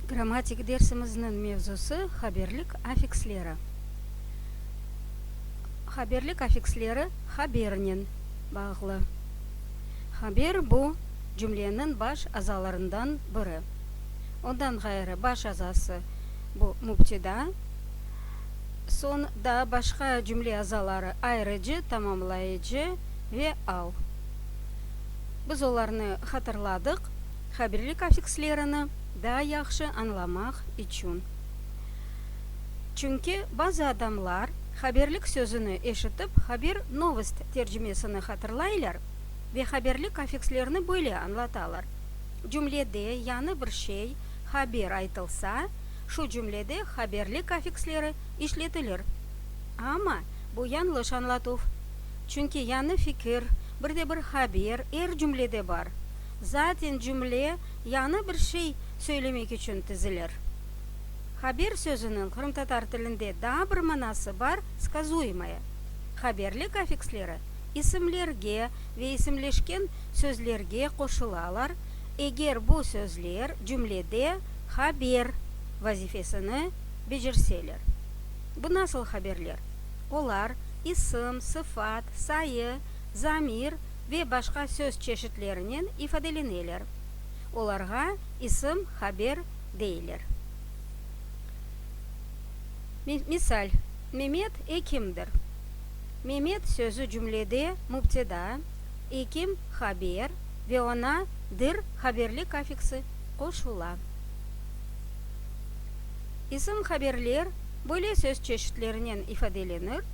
Grammatik dersimizniñ mevzusı, haberlik affiksleri. Haberlik affiksleri habernen bağlı. Haber, bu, cümleniñ baş azalarından biri. Ondan ğayrı, baş azası, bu, mübteda, soñ daa başqa cümle azaları, ayırıcı, tamamlayıcı ve al. Biz olarnı hatırladıq. Habirlik affikslerini daa yahşı añlamaq içün. Çünki bazı adamlar habirlik sözüni eşitip haber, novost, tercimesini hatırlaylar ve habirlik affikslerini böyle añlatalar, Cümlede yañı bir şey, haber, aytılsa, şu cümlede habirlik affiksleri işletilir. Amma bu yañlış añlatuv. Çünki yañı fikir, bir de bir haber er cümlede bar. Zaten cümle yañı bir şey söylemek içün tizilir. Haber sözüniñ qırımtatar tilinde daa bir manası bar, skazuemaya. Haberlik affiksleri isimlerge ve isimleşken sözlerge qoşulalar, eger bu sözler cümlede haber vazifesini becerseler. Bu nasıl haberler? Olar, isim, sıfat, sayı, zamir, ve başqa söz çeşitlerinen ifadeleneler. Olarğa ism, haber deyler. Misal, Memet ekimdir. Memet sözü cümlede mübteda, ekim, haber ve oña dir haberlik affiksi qoşula. İsm haberler böyle söz çeşitlerinen ifadelenir,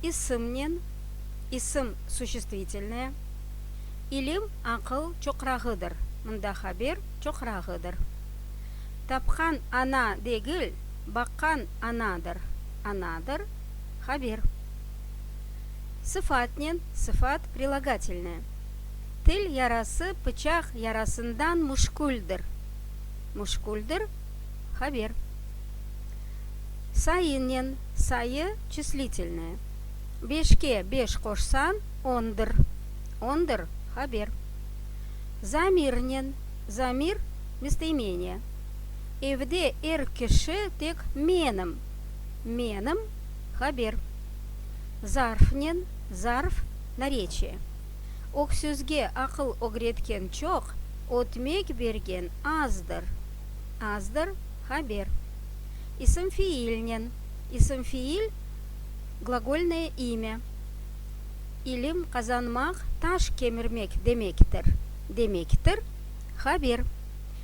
ismnen, isim suçestvitelnıye, ilim aqıl çoqrağıdır, mında haber çoqrağıdır. Tapqan ana degil, baqqan anadır, anadır, haber. Sıfatnen, sıfat prilogatelnıye, til yarası pıçaq yarasından muşküldir, muşküldir, haber. Sayınen, sayı çislitelnıye. Beşke beş qoşsañ, ondır. Ondır, haber. Zamirnen, zamir, mestemeniya. Evde er kişi tek menim. Menim, haber. Zarfnen, zarf, nareçiye. Öksüzge aqıl ögretken çoq, ötmek bergen azdır. Azdır, haber. İsim-fiilnen, isim-fiil. Glagolnoye imya, İlim qazanmaq taş kemirmek demektir, demektir, haber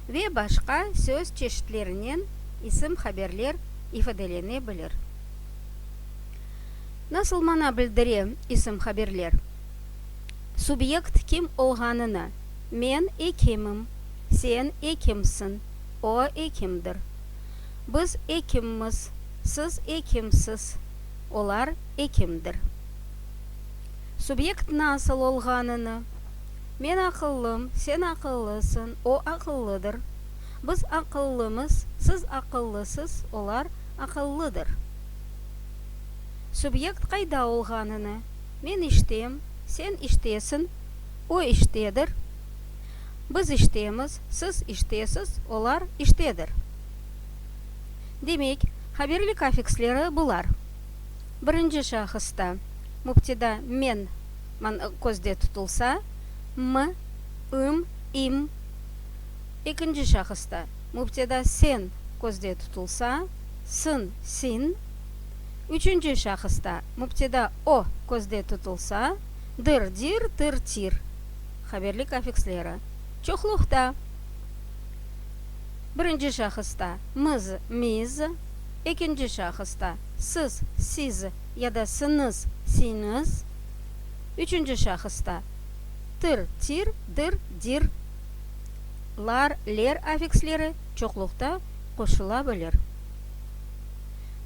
ve başqa söz çeşitlerinen isim haberler ifadelene bilir. Nasıl mana bildire isim haberler? Subyekt kim olğanını, men ekimim, sen ekimsiñ, o ekimdir, biz ekimmiz, Siz ekimsiz, olar ekimdir. Subyekt nasıl olğanını, Men aqıllım, sen aqıllısıñ, o aqıllıdır, biz aqıllımız, siz aqıllısız, olar aqıllıdır. Subyekt qayda olğanını, Men iştem, sen iştesiñ, o iştedir, biz iştemiz, siz iştesiz, olar iştedir. Demek, haberlik affiksleri bular. Birinci şahısta, mübteda men man közde tutulsa, m, üm, im. Ekinci şahısta, mübteda sen közde tutulsa, sın, sin. Üçünci şahısta, mübteda o közde tutulsa, dır, dir, tır, tir. Haberlik affiksleri. Çoqluqta. Birinci şahısta, mız, miz, ekinci şahısta, sız, siz, ya da sınız, siñız, üçünci şahısta, tır, tir, dır, dir, lar, ler affiksleri çoqluqta qoşula bilir.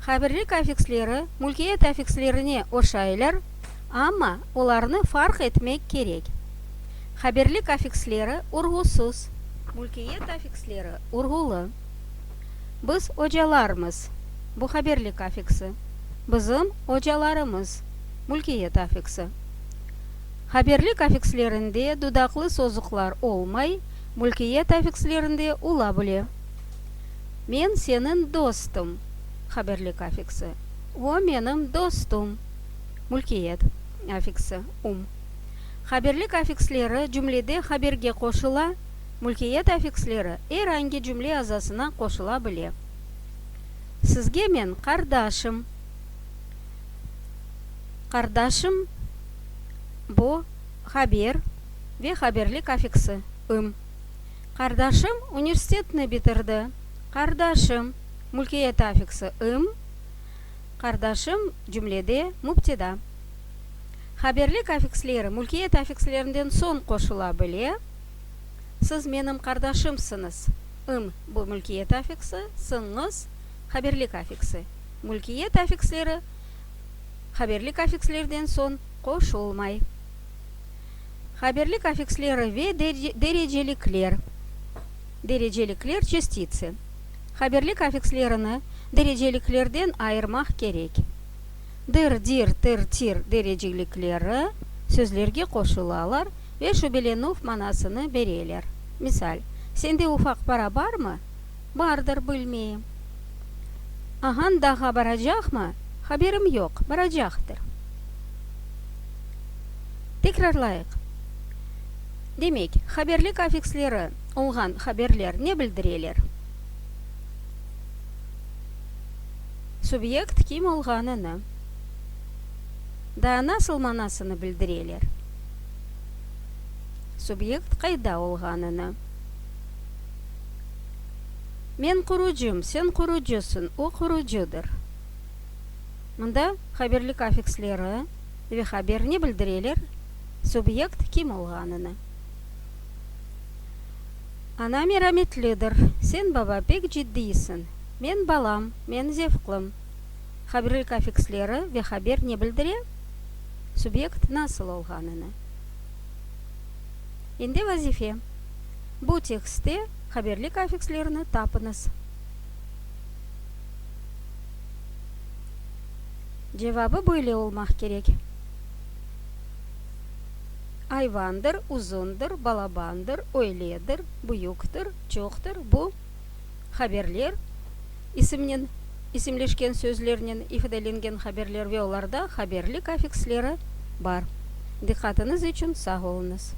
Haberlik affiksleri mülkiyet affikslerine oşaylar. amma olarnı farq etmek kerek. Haberlik afiksleri urğusız. Mülkiyet afiksleri urğulı. Biz ocalarmız, bu haberlik afiksi, bizim ocalarımız, mülkiyet afiksi. Haberlik afikslerinde dudaqlı sozuqlar olmay, mülkiyet afikslerinde ola bile. Men seniñ dostum, haberlik afiksi, o, menim dostum. Mülkiyet affiksi, um. Haberlik affiksleri cümlede haberge qoşula, mülkiyet affiksleri er angi cümle azasına qoşula bile. Sizge men qardaşım, Qardaşım, bu, haber ve haberlik affiksi, ım. Qardaşım universitetni bitirdi, Qardaşım, mülkiyet affiksi, ım. Qardaşım, cümlede, mübteda. Haberlik afiksleri mülkiyet affikslerinden soñ qoşula bile. Siz menim qardaşımsıñız, ım, bu mülkiyet affiksi, sıñız, haberlik affiksi. Mülkiyet affiksleri haberlik affikslerden soñ qoşulmay. Haberlik affiksleri ve derecelikler, derecelikler, çestitsi. Haberlik afikslerini dereceliklerden ayırmaq kerek. Dır, dir, tır, tir derecelikleri sözlerge qoşulalar ve şübelenüv manasını bereler. Misal, Sende ufaq para barmı? Bardır, bilmeyim. Ağañ dağğa baracaqmı? Haberim yoq, baracaqtır. Tekrarlayıq. Demek, haberlik afiksleri. olğan haberler ne bildireler? Subyekt kim olğanını, daa nasıl manasını bildireler? Subyekt qayda olğanını, men qurucım, sen qurucısıñ, o qurucıdır. Mında haberlik afiksleri ve haber ne bildireler? Subyekt kim olğanını. Ana merametlidir, sen, baba, pek ciddiysin. Men, balam, men zevqlım. Haberlik afiksleri ve haber ne bildire? Subyekt nasıl olğanını. Endi vazife. Bu tekstte haberlik afikslerini tapıñız. Cevabı böyle olmaq kerek. Ayvandır, uzundır, balabandır, öyledir, büyüktür, çoqtır, bu haberler, isimnen isimleşken sözlernen ifadelengen haberler ve olarda haberlik affiksleri bar. Diqqatınız içün sağ oluñız.